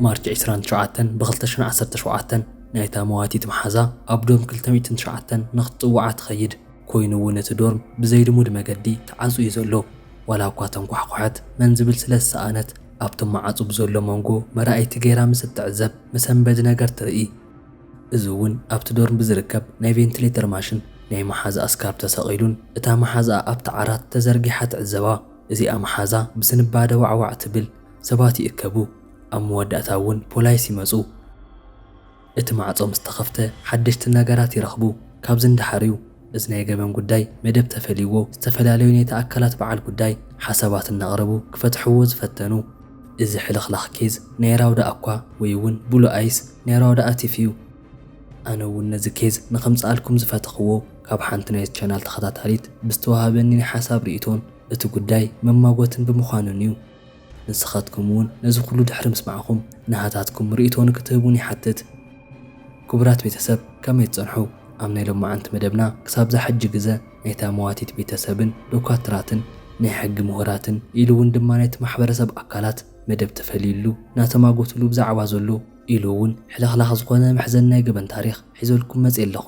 ማርች ዕስራን ትሽዓተን ብ ክልተ ሽሕን ዓሰርተ ሸውዓተን ናይታ መዋቲት መሓዛ ኣብ ዶርም ክልተ ሚእትን ትሽዓተን ንክትጽውዓ ትኸይድ። ኮይኑ'ውን እቲ ዶርም ብዘይልሙድ መገዲ ተዓጽዩ ዘሎ። ዋላ እኳ ተንኳሕኩሐት መን ዝብል ስለ ዝሰኣነት ኣብቲ መዓጹ ብዘሎ መንጎ መረኣይቲ ገይራ ምስ እትዕዘብ መሰንበዲ ነገር ትርኢ። እዚ እውን ኣብቲ ዶርም ብዝርከብ ናይ ቬንትሌተር ማሽን ናይ መሓዝኣ ስካርፕ ተሰቒሉን እታ መሓዝኣ ኣብቲ ዓራት ተዘርጊሓ ትዕዘባ። እዚኣ መሓዛ ብስንባደ ዋዕዋዕ ትብል። ሰባት ይእከቡ። ኣብ መወዳእታ እውን ፖላይስ ይመጹ። እቲ ማዕጾ ምስ ተኸፍተ ሓደሽቲ ነገራት ይረኽቡ። ካብዚ ንደሓር እዩ እዚ ናይ ገበን ጉዳይ መደብ ተፈልይዎ ዝተፈላለዩ ናይቲ ኣካላት በዓል ጉዳይ ሓሳባት እናቕረቡ ክፈትሕዎ ዝፈተኑ እዚ ሕልኽላኽ ኬዝ ናይ ራውዳ'ኳ ወይ እውን ብሉ ኣይስ ናይ ራውዳኣ ቲፍ እዩ። ኣነ እውን ነዚ ኬዝ ንኸምጽኣልኩም ዝፈተኽዎ ካብ ሓንቲ ናይዚ ቻናል ተኸታታሊት ብዝተወሃበኒ ናይ ሓሳብ ርኢቶን እቲ ጉዳይ መማጎትን ብምዃኑን እዩ። ንስኻትኩም እውን ነዚ ኩሉ ድሕሪ ምስማዕኹም ናሃታትኩም ሪኢቶ ንክትህቡኒ ይሓትት። ኩቡራት ቤተሰብ ከመይ ትጸንሑ ኣብ ናይ ሎማዓንቲ መደብና ክሳብ ዛሕጂ ግዘ ናይታ መዋቲት ቤተሰብን ዶካትራትን ናይ ሕጊ ሙሁራትን ኢሉ እውን ድማ ናይቲ ማሕበረሰብ ኣካላት መደብ ተፈልዩሉ ናተማጎትሉ ብዛዕባ ዘሎ ኢሉ እውን ሕልኽላኽ ዝኾነ መሕዘኒ ናይ ገበን ታሪኽ ሒዘልኩም መጼ ኣለኹ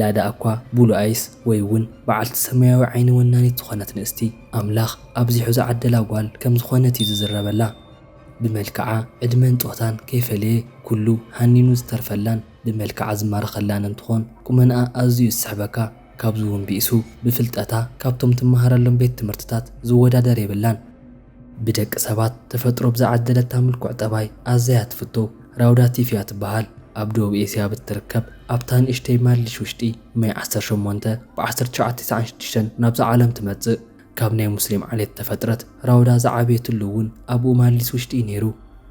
ላዳ'ኳ ብሉኣይስ ወይ'ውን በዓልቲ ሰማያዊ ዓይኒ ወናኒት ዝኾነት ንእስቲ ኣምላኽ ኣብዚሑ ዝዓደላ ጓል ከም ዝኾነት'ዩ ዝዝረበላ። ብመልክዓ፣ ዕድመን ጾታን ከይፈለየ ኩሉ ሃኒኑ ዝተርፈላን ብመልክዓ ዝማረኸላን እንትኾን ቁመንኣ ኣዝዩ ዝስሕበካ ካብዚ'ውን ብኢሱ ብፍልጠታ ካብቶም ትመሃረሎም ቤት ትምህርትታት ዝወዳደር የብላን። ብደቂ ሰባት ተፈጥሮ ብዝዓደለታ ምልኩዕ ጠባይ ኣዘያ ትፍቶ ራውዳ ቲፍ እያ ትበሃል። ኣብ ደቡብ ኤስያ ብትርከብ ኣብታ ንእሽተይ ማሊሽ ውሽጢ መይ ዓሰርተ ሸሞንተ ብ ዓሰርተ ትሽዓተ ተስዓን ሽዱሽተን ናብዛ ዓለም ትመጽእ። ካብ ናይ ሙስሊም ዓሌት እተፈጥረት ራውዳ ዝዓበየትሉ እውን ኣብኡ ማሊስ ውሽጢ እዩ ነይሩ።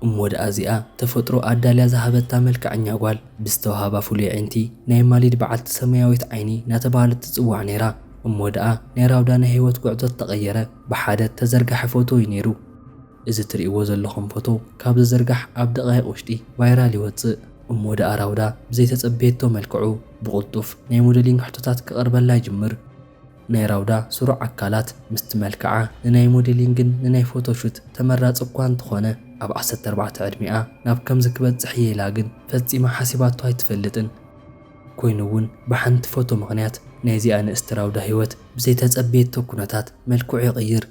እሞ ደኣ እዚኣ ተፈጥሮ ኣዳልያ ዝሃበታ መልከዐኛ ጓል ብዝተውሃባ ፍሉይ ኣዒንቲ ናይ ማሊድ በዓልቲ ሰማያዊት ዓይኒ እናተባህለት ትጽዋዕ ነይራ። እሞ ደኣ ናይ ራውዳ ናይ ህይወት ጉዕዞ ዝተቐየረ ብሓደ እተዘርገሐ ፎቶ እዩ ነይሩ። እዚ ትርእይዎ ዘለኹም ፎቶ ካብ ዝዝርጋሕ ኣብ ደቓይቕ ውሽጢ ቫይራል ይወጽእ። እሞ ደኣ ራውዳ ብዘይተጸበየቶ መልክዑ ብቕልጡፍ ናይ ሞደሊንግ ሕቶታት ክቐርበላ ይጅምር። ናይ ራውዳ ስሩዕ ኣካላት ምስቲ መልክዓ ንናይ ሞደሊንግን ንናይ ፎቶ ሹት ተመራጺ እኳ እንተኾነ ኣብ ዓሰርተ ኣርባዕተ ዕድሚኣ ናብ ከምዚ ክበጽሕ እየ ኢላ ግን ፈጺማ ሓሲባቶ ኣይትፈልጥን። ኮይኑ እውን ብሓንቲ ፎቶ ምኽንያት ናይዚኣ ንእስቲ ራውዳ ህይወት ብዘይተፀበየቶ ኩነታት መልክዑ ይቕይር።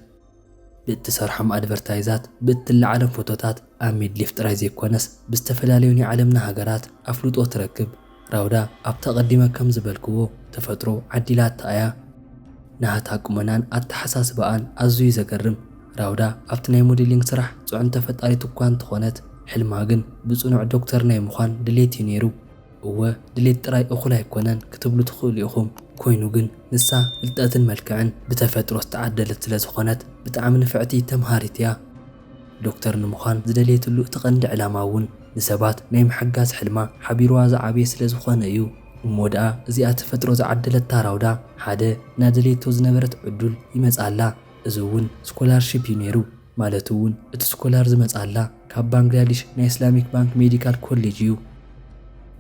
ብእትሰርሖም ኣድቨርታይዛት፣ ብእትለዓሎም ፎቶታት ኣብ ሚድሊፍ ጥራይ ዘይኮነስ ብዝተፈላለዩ ናይ ዓለምና ሃገራት ኣፍልጦ ትረክብ። ራውዳ ኣብቲ ኣቐዲመ ከም ዝበልክዎ ተፈጥሮ ዓዲላታ እያ። ናህታ ቁመናን ኣተሓሳስባኣን ኣዝዩ እዩ ዘገርም። ራውዳ ኣብቲ ናይ ሞዴሊንግ ስራሕ ፅዕንቶ ፈጣሪት እኳ እንተኾነት ሕልማ ግን ብፅኑዕ ዶክተር ናይ ምዃን ድሌት እዩ ነይሩ። እወ ድሌት ጥራይ እኹል ኣይኮነን ክትብሉ ትኽእሉ ኢኹም፣ ኮይኑ ግን ንሳ ፍልጠትን መልክዕን ብተፈጥሮ ዝተዓደለት ስለ ዝኾነት ብጣዕሚ ንፍዕቲ ተምሃሪት እያ። ዶክተር ንምዃን ዝደለየትሉ እቲ ቀንዲ ዕላማ እውን ንሰባት ናይ ምሕጋዝ ሕልማ ሓቢሩዋ ዝዓበየ ስለ ዝኾነ እዩ። እሞ ደኣ እዚኣ ተፈጥሮ ዝዓደለታ ራውዳ ሓደ እናደለየቶ ዝነበረት ዕዱል ይመጽኣላ፣ እዚ እውን ስኮላርሺፕ እዩ ነይሩ። ማለት እውን እቲ ስኮላር ዝመፅኣላ ካብ ባንግላዲሽ ናይ እስላሚክ ባንክ ሜዲካል ኮሌጅ እዩ።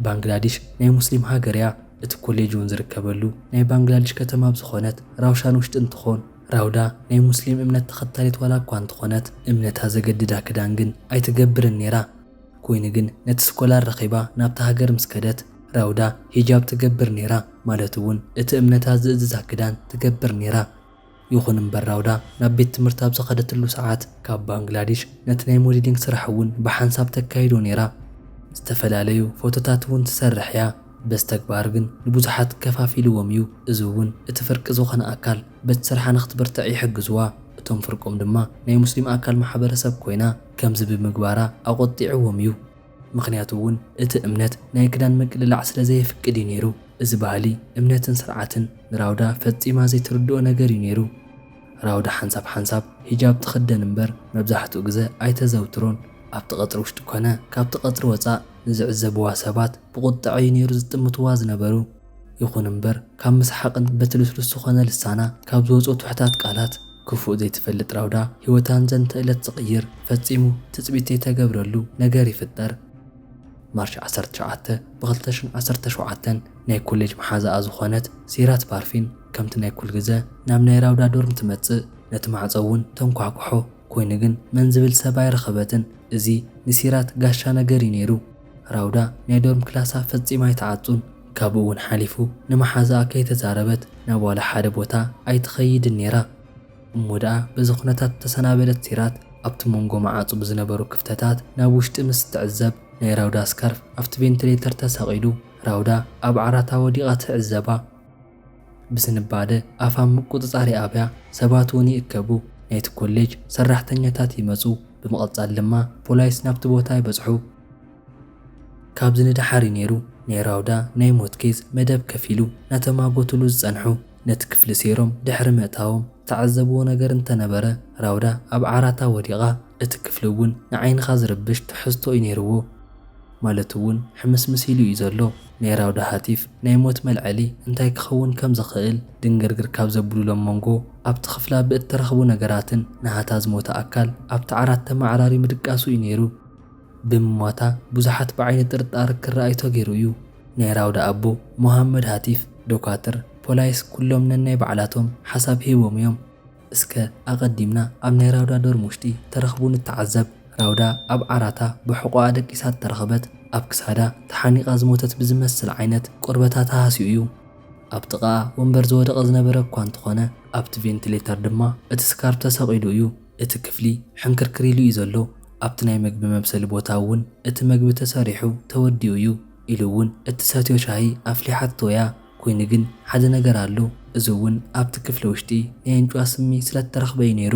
ባንግላዲሽ ናይ ሙስሊም ሃገር እያ። እቲ ኮሌጅ እውን ዝርከበሉ ናይ ባንግላዲሽ ከተማ ኣብ ዝኾነት ራውሻን ውሽጢ እንትኾን ራውዳ ናይ ሙስሊም እምነት ተኸታሊት ዋላ እኳ እንተኾነት እምነታ ዘገድዳ ክዳን ግን ኣይትገብርን ነይራ። ኮይኑ ግን ነቲ ስኮላር ረኺባ ናብታ ሃገር ምስ ከደት ራውዳ ሂጃብ ትገብር ነይራ ማለት እውን እቲ እምነታ ዝእዝዛ ክዳን ትገብር ነይራ። ይኹን እምበር ራውዳ ናብ ቤት ትምህርቲ ኣብ ዝኸደትሉ ሰዓት ካብ ባንግላዲሽ ነቲ ናይ ሞዲሊንግ ስራሕ እውን ብሓንሳብ ተካይዶ ነይራ። ዝተፈላለዩ ፎቶታት እውን ትሰርሕ እያ። በዚ ተግባር ግን ንብዙሓት ከፋፊልዎም እዩ። እዚ እውን እቲ ፍርቂ ዝኾነ ኣካል በቲ ስርሓ ንክትብርትዕ ይሕግዝዋ። እቶም ፍርቆም ድማ ናይ ሙስሊም ኣካል ማሕበረሰብ ኮይና ከምዚ ብምግባራ ኣቖጢዕዎም እዩ። ምኽንያቱ እውን እቲ እምነት ናይ ክዳን ምቅልላዕ ስለ ዘየፍቅድ እዩ ነይሩ። እዚ ባህሊ፣ እምነትን ስርዓትን ንራውዳ ፈጺማ ዘይትርድኦ ነገር እዩ ነይሩ። ራውዳ ሓንሳብ ሓንሳብ ሂጃብ ትኽደን እምበር መብዛሕትኡ ግዘ ኣይተዘውትሮን። ኣብቲ ቀጽሪ ውሽጢ ኮነ ካብቲ ቀጽሪ ወጻእ ንዝዕዘብዋ ሰባት ብቑጠዐ እዩ ነይሩ ዝጥምትዋ ዝነበሩ። ይኹን እምበር ካብ ምስሓቕን በቲ ልስሉስ ዝኾነ ልሳና ካብ ዝወጹ ትሑታት ቃላት ክፉእ ዘይትፈልጥ ራውዳ ህይወታን ዘንተእለት ዝቕይር ፈጺሙ ትጽቢት ዘይተገብረሉ ነገር ይፍጠር። ማርች ዓሰርተ ትሽዓተ ብኽልተ ሽን ዓሰርተ ሸውዓተ ናይ ኮሌጅ መሓዛኣ ዝኾነት ሲራት ፓርፊን ከምቲ ናይ ኩልግዘ ናብ ናይ ራውዳ ዶርም ትመጽእ ነቲ ማዕጾ እውን ተንኳሕኩሖ ኮይኑ ግን መን ዝብል ሰብ ኣይረኸበትን እዚ ንሲራት ጋሻ ነገር እዩ ነይሩ ራውዳ ናይ ዶርም ክላሳ ፈጺማ ኣይትዓጹን፣ ካብኡ'ውን ሓሊፉ ንመሓዛኣ ከይተዛረበት ናብ ዋላ ሓደ ቦታ ኣይትኸይድን ነይራ። እሞ ደኣ በዚ ኩነታት እተሰናበደት ሲራት፣ ኣብቲ መንጎ መዓጹ ብዝነበሩ ክፍተታት ናብ ውሽጢ ምስ እትዕዘብ፣ ናይ ራውዳ ስካርፍ ኣብቲ ቬንትሌተር ተሰቒሉ ራውዳ ኣብ ዓራታ ወዲቓ ትዕዘባ። ብስንባደ ኣፍ ኣብ ምቁጽጻር ይኣብያ፣ ሰባት እውን ይእከቡ፣ ናይቲ ኮሌጅ ሰራሕተኛታት ይመጹ፣ ብምቕጻል ድማ ፖላይስ ናብቲ ቦታ ይበጽሑ። ካብዚ ንደሓር እዩ ነይሩ ናይ ራውዳ ናይ ሞት ኬዝ መደብ ከፊሉ ናተማጎቱሉ ዝጸንሑ። ነቲ ክፍሊ ሰይሮም ድሕሪ ምእታዎም ዝተዓዘብዎ ነገር እንተነበረ ራውዳ ኣብ ዓራታ ወዲቓ፣ እቲ ክፍሊ እውን ንዓይንኻ ዝርብሽ ትሕዝቶ እዩ ነይርዎ። ማለት እውን ሕምስምስ ኢሉ እዩ ዘሎ። ናይ ራውዳ ሃቲፍ ናይ ሞት መልዐሊ እንታይ ክኸውን ከም ዝኽእል ድንግርግር ካብ ዘብሉሎም መንጎ ኣብቲ ክፍላ ብእተረኽቡ ነገራትን ናሃታ ዝሞተ ኣካል ኣብቲ ዓራት ተመዓራርዩ ምድቃሱ እዩ ነይሩ። ብምሟታ ብዙሓት ብዓይኒ ጥርጣር ክረኣዩ ተገይሩ እዩ። ናይ ራውዳ ኣቦ ሞሃመድ ሃቲፍ፣ ዶካትር፣ ፖላይስ ኩሎም ነናይ ባዕላቶም ሓሳብ ሂቦም እዮም። እስከ ኣቐዲምና ኣብ ናይ ራውዳ ዶርም ውሽጢ ተረኽቡ ንተዓዘብ። ራውዳ ኣብ ዓራታ ብሕቖኣ ደቂሳ እተረኽበት፣ ኣብ ክሳዳ ተሓኒቓ ዝሞተት ብዝመስል ዓይነት ቆርበታ ተሃስዩ እዩ። ኣብ ጥቓኣ ወንበር ዝወደቐ ዝነበረ እኳ እንተኾነ፣ ኣብቲ ቬንትሌተር ድማ እቲ ስካርፕ ተሰቒሉ እዩ። እቲ ክፍሊ ሕንክርክር ኢሉ እዩ ዘሎ። ኣብቲ ናይ መግቢ መብሰሊ ቦታ እውን እቲ መግቢ ተሰሪሑ ተወዲኡ እዩ። ኢሉ እውን እትሰትዮ ሻሂ ኣፍሊሓቶ እያ። ኮይኑ ግን ሓደ ነገር ኣሎ እዚ እውን ኣብቲ ክፍሊ ውሽጢ ናይ ኣንጭዋ ስሚ ስለ እተረኽበ እዩ ነይሩ።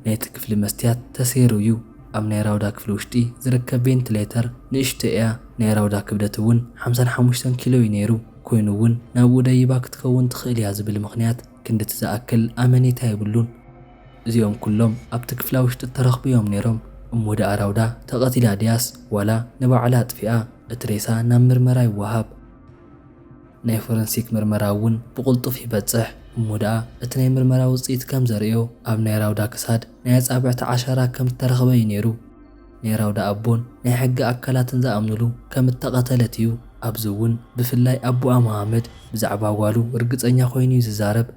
ናይቲ ክፍሊ መስትያት ተሰይሩ እዩ። ኣብ ናይ ራውዳ ክፍሊ ውሽጢ ዝርከብ ቬንትሌተር ንእሽቶ እያ። ናይ ራውዳ ክብደት እውን ሓምሳን ሓሙሽተን ኪሎ እዩ ነይሩ። ኮይኑ እውን ናብኡ ደይባ ክትከውን ትኽእል እያ ዝብል ምኽንያት ክንድቲ ዝኣክል ኣመኔታ የብሉን። እዚኦም ኩሎም ኣብቲ ክፍላ ውሽጢ እተረኽቡ እዮም ነይሮም። እሞ ደኣ ራውዳ ተቐቲላ ድያስ ዋላ ንባዕላ ኣጥፊኣ? እቲ ሬሳ ናብ ምርመራ ይወሃብ። ናይ ፎረንሲክ ምርመራ እውን ብቕልጡፍ ይበጽሕ፣ እሞ ደኣ እቲ ናይ ምርመራ ውጽኢት ከም ዘርእዮ ኣብ ናይ ራውዳ ክሳድ ናይ ኣጻብዕቲ ዓሻራ ከም እተረኽበ እዩ ነይሩ። ናይ ራውዳ ኣቦን ናይ ሕጊ ኣካላትን ዝኣምኑሉ ከም እተቐተለት እዩ፣ ኣብዚ እውን ብፍላይ ኣቦኣ መሃመድ ብዛዕባ ጓሉ ርግጸኛ ኰይኑ እዩ ዝዛረብ።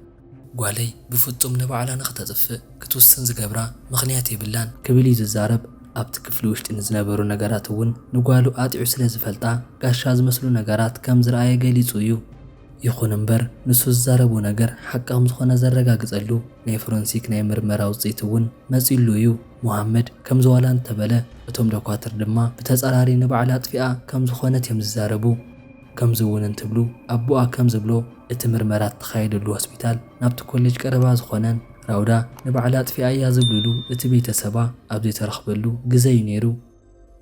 ጓለይ ብፍጹም ንባዕላ ንኽተጥፍእ ክትውስን ዝገብራ ምኽንያት የብላን። ክብል እዩ ዝዛረብ። ኣብቲ ክፍሊ ውሽጢ ንዝነበሩ ነገራት እውን ንጓሉ ኣጥዕዩ ስለ ዝፈልጣ ጋሻ ዝመስሉ ነገራት ከም ዝረኣየ ገሊጹ እዩ። ይኹን እምበር ንሱ ዝዛረቦ ነገር ሓቂ ከም ዝኾነ ዘረጋግጸሉ ናይ ፎረንሲክ ናይ ምርመራ ውጽኢት እውን መጺኡሉ እዩ። ሞሃመድ ከምዚ ዋላ እንተበለ እቶም ዶኳትር ድማ ብተጻራሪ ንባዕላ ኣጥፊኣ ከም ዝኾነት እዮም ዝዛረቡ። ከምዚ እውን እንትብሉ ኣቦኣ ከም ዝብሎ እቲ ምርመራ እተኻየደሉ ሆስፒታል ናብቲ ኮሌጅ ቀረባ ዝኾነን ራውዳ ንባዕላ ኣጥፊኣ እያ ዝብልሉ እቲ ቤተሰባ ኣብ ዘይተረኽበሉ ግዘ እዩ ነይሩ።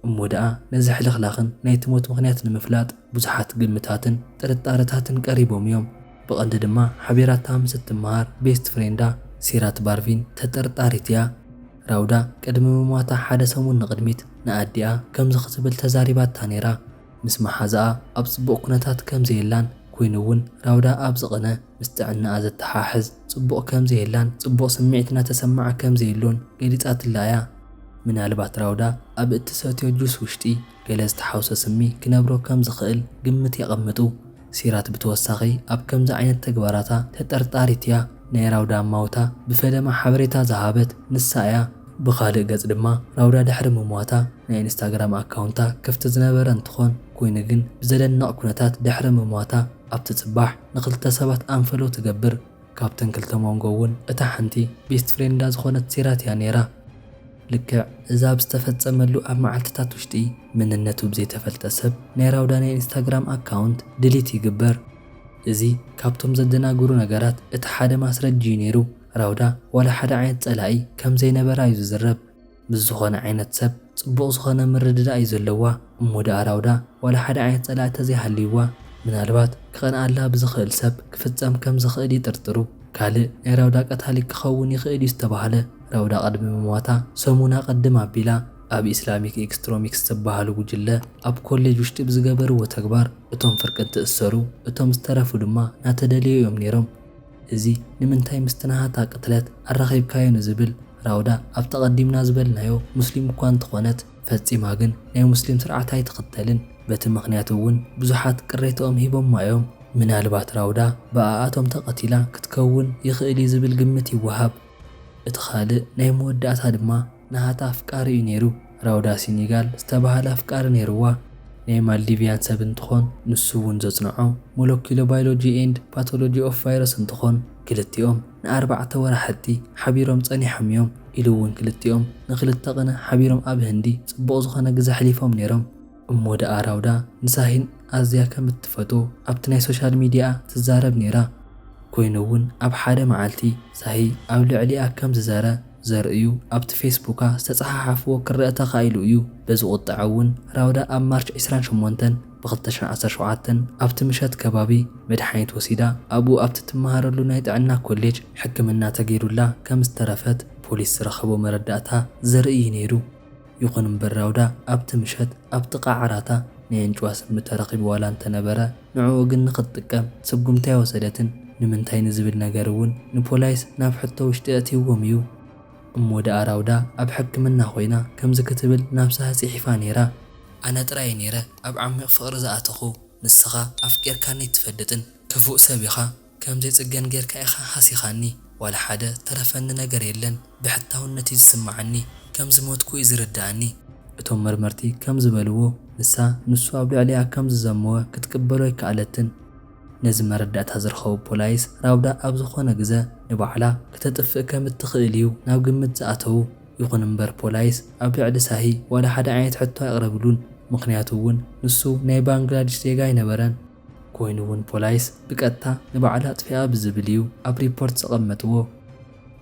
እሞ ደኣ ነዚ ሕልኽላኽን ናይቲ ሞት ምኽንያት ንምፍላጥ ብዙሓት ግምታትን ጥርጣረታትን ቀሪቦም እዮም። ብቐንዲ ድማ ሓቢራታ ምስ እትመሃር ቤስት ፍሬንዳ ሲራት ባርቪን ተጠርጣሪት እያ። ራውዳ ቅድሚ ምሟታ ሓደ ሰሙን ንቕድሚት ንኣዲኣ ከምዚ ክትብል ተዛሪባታ ነይራ። ምስ መሓዛኣ ኣብ ጽቡቕ ኩነታት ከም ዘየላን ኩይኑ'ውን ራውዳ ኣብ ዝቕነ ምስ ጥዕናኣ ዘተሓሕዝ ጽቡቕ ከም ዘየላን ጽቡቕ ስምዒት እናተሰመዓ ከም ዘየሎን ገሊጻትላ እያ። ምናልባት ራውዳ ኣብ እትሰትዮ ጁስ ውሽጢ ገለ ዝተሓውሰ ስሚ ክነብሮ ከም ዝኽእል ግምት የቐምጡ። ሲራክ ብተወሳኺ ኣብ ከምዚ ዓይነት ተግባራታ ተጠርጣሪት እያ፣ ናይ ራውዳ ኣማውታ ብፈለማ ሓበሬታ ዝሃበት ንሳ እያ። ብኻልእ ገፅ ድማ ራውዳ ድሕሪ ምሟታ ናይ ኢንስታግራም ኣካውንታ ክፍቲ ዝነበረ እንትኾን ኮይኑ ግን ብዘደንቕ ኩነታት ድሕሪ ምሟታ ኣብቲ ፅባሕ ንክልተ ሰባት ኣንፈሎው ትገብር። ካብተን ክልተ ሞንጎ እውን እታ ሓንቲ ቤስት ፍሬንዳ ዝኾነት ሲራት እያ ነይራ። ልክዕ እዚ ኣብ ዝተፈጸመሉ ኣብ መዓልትታት ውሽጢ፣ መንነቱ ብዘይተፈልጠ ሰብ ናይ ራውዳ ናይ ኢንስታግራም ኣካውንት ድሊት ይግበር። እዚ ካብቶም ዘደናግሩ ነገራት እቲ ሓደ ማስረጂ'ዩ ነይሩ። ራውዳ ዋላ ሓደ ዓይነት ጸላኢ ከምዘይነበራ'ዩ ዝዝረብ። ምስ ዝኾነ ዓይነት ሰብ ጽቡቕ ዝኾነ ምርድዳእ'ዩ ዘለዋ። እሞ ደኣ ራውዳ ዋላ ሓደ ዓይነት ጸላኢ ተዘይሃልይዋ ምናልባት ክቐንኣላ ብዝኽእል ሰብ ክፍጸም ከም ዝኽእል ይጥርጥሩ። ካልእ ናይ ራውዳ ቀታሊ ክኸውን ይኽእል እዩ ዝተባህለ ራውዳ ቅድሚ ምሟታ ሰሙን ኣቐድም ኣቢላ ኣብ ኢስላሚክ ኢክስትሮሚክስ ዝባሃሉ ጉጅለ ኣብ ኮሌጅ ውሽጢ ብዝገበርዎ ተግባር እቶም ፍርቂ እንትእሰሩ እቶም ዝተረፉ ድማ ናተደለዩ እዮም ነይሮም። እዚ ንምንታይ ምስቲ ናሃታ ቅትለት ኣራኺብካዮ ንዝብል ራውዳ ኣብቲ ኣቐዲምና ዝበልናዮ ሙስሊም እኳ እንተኾነት ፈጺማ ግን ናይ ሙስሊም ስርዓት ኣይትኽተልን በቲ ምኽንያት እውን ብዙሓት ቅሬተኦም ሂቦማ እዮም። ምናልባት ራውዳ ብኣኣቶም ተቐቲላ ክትከውን ይኽእል እዩ ዝብል ግምት ይወሃብ። እቲ ኻልእ ናይ መወዳእታ ድማ ናሃታ ኣፍቃሪ እዩ ነይሩ። ራውዳ ሲኒጋል ዝተባህለ ኣፍቃሪ ነይሩዋ ናይ ማልዲቪያን ሰብ እንትኾን ንሱ እውን ዘጽንዖ ሞለኪሎ ባይሎጂ ኤንድ ፓቶሎጂ ኦፍ ቫይረስ እንትኾን ክልቲኦም ንኣርባዕተ ወራሕቲ ሓቢሮም ጸኒሖም እዮም ኢሉ እውን ክልቲኦም ንክልተ ቅነ ሓቢሮም ኣብ ህንዲ ጽቡቕ ዝኾነ ግዘ ኣሕሊፎም ነይሮም። እሞ ደኣ ራውዳ ንሳሂን ኣዝያ ከም እትፈትዎ ኣብቲ ናይ ሶሻል ሚዲያኣ ትዛረብ ነይራ። ኮይኑ እውን ኣብ ሓደ መዓልቲ ሳሂ ኣብ ልዕሊኣ ከም ዝዘረ ዘርእዩ ኣብቲ ፌስቡካ ዝተጸሓሓፍዎ ክረኣ ተኻኢሉ እዩ። በዚ ቁጠዐ እውን ራውዳ ኣብ ማርች ዕስራን ሸሞንተን፣ ብ ክልተ ሽሕን ዓሰርተ ሸውዓተን ኣብቲ ምሸት ከባቢ መድሓኒት ወሲዳ ኣብኡ ኣብቲ ትመሃረሉ ናይ ጥዕና ኮሌጅ ሕክምና ተገይሩላ ከም ዝተረፈት ፖሊስ ዝረኸቦ መረዳእታ ዘርኢ እዩ ነይሩ። ይኹን እምበር ራውዳ ኣብቲ ምሸት ኣብ ጥቓ ዓራታ ናይ ኣንጭዋ ስሚ ተረኺቡ ዋላ እንተነበረ ንዕኡ ግን ንኽትጥቀም ስጉምቲ ኣይወሰደትን። ንምንታይ ንዝብል ነገር እውን ንፖላይስ ናብ ሕቶ ውሽጢ ኣእትይዎም እዩ። እሞ ደኣ ራውዳ ኣብ ሕክምና ኮይና ከምዚ ክትብል ናብሳሀ ጺሒፋ ኔራ። ኣነ ጥራይ ኔረ ኣብ ዓሚቕ ፍቕሪ ዝኣተኹ ንስኻ ኣፍቂርካኒ ኣይትፈልጥን ክፉእ ሰብ ኢኻ ከምዘይ ጽገን ጌርካ ኢኻ ሃሲኻኒ ዋላ ሓደ ዝተረፈኒ ነገር የለን ብሕታውነት እዩ ዝስምዓኒ ከም ዝሞትኩ እዩ ዝርድኣኒ። እቶም መርመርቲ ከም ዝበልዎ ንሳ ንሱ ኣብ ልዕሊኣ ከም ዝዘመወ ክትቅበሎ ኣይከኣለትን። ነዚ መረዳእታ ዝረኸቡ ፖላይስ፣ ራውዳ ኣብ ዝኾነ ግዘ ንባዕላ ክተጥፍእ ከም እትኽእል እዩ ናብ ግምት ዝኣተዉ። ይኹን እምበር ፖላይስ ኣብ ልዕሊ ሳሂ ዋላ ሓደ ዓይነት ሕቶ ኣየቕረብሉን፣ ምኽንያቱ እውን ንሱ ናይ ባንግላዲሽ ዜጋ ኣይነበረን። ኮይኑ እውን ፖላይስ ብቀጥታ ንባዕላ ኣጥፊኣ ብዝብል እዩ ኣብ ሪፖርት ዘቐመጥዎ።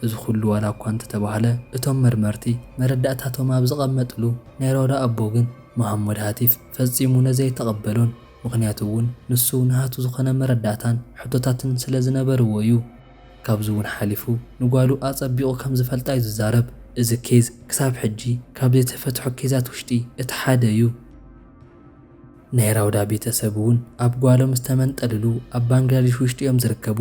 እዚ ኩሉ ዋላ እኳ እንተተባህለ እቶም መርመርቲ መረዳእታቶም ኣብ ዘቐመጥሉ ናይ ራውዳ ኣቦ ግን መሃመድ ሃቲፍ ፈፂሙ ነዚ ኣይተቐበሎን። ምኽንያቱ እውን ንሱ ናሃቱ ዝኾነ መረዳእታን ሕቶታትን ስለ ዝነበርዎ እዩ። ካብዚ እውን ሓሊፉ ንጓሉ ኣፀቢቑ ከም ዝፈልጣ እዩ ዝዛረብ። እዚ ኬዝ ክሳብ ሕጂ ካብ ዘይተፈትሑ ኬዛት ውሽጢ እቲ ሓደ እዩ። ናይ ራውዳ ቤተሰብ እውን ኣብ ጓሎም ዝተመንጠልሉ ኣብ ባንግላዴሽ ውሽጢ እዮም ዝርከቡ።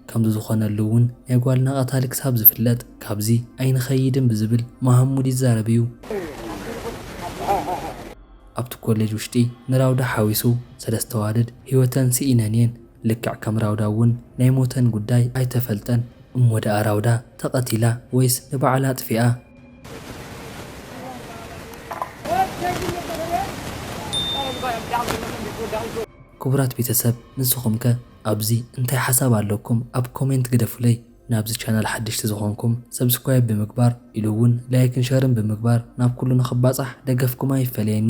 ከምዚ ዝኾነሉ እውን ናይ ጓልና ቀታሊ ክሳብ ዝፍለጥ ካብዚ ኣይንኸይድን ብዝብል መሃሙድ ይዛረብ እዩ። ኣብቲ ኮሌጅ ውሽጢ ንራውዳ ሓዊሱ ሰለስተ ኣዋልድ ህይወተን ስኢነን እየን። ልክዕ ከም ራውዳ እውን ናይ ሞተን ጉዳይ ኣይተፈልጠን። እሞ ደኣ ራውዳ ተቐቲላ ወይስ ንባዕላ ኣጥፊኣ? ክቡራት ቤተሰብ ንስኹም ከ? ኣብዚ እንታይ ሓሳብ ኣለኩም ኣብ ኮሜንት ግደፉለይ ናብዚ ቻናል ሓደሽቲ ዝኾንኩም ሰብስክራይብ ብምግባር ኢሉ እውን ላይክን ሸርን ብምግባር ናብ ኩሉ ንኽባፃሕ ደገፍኩም ኣይፈለየኒ።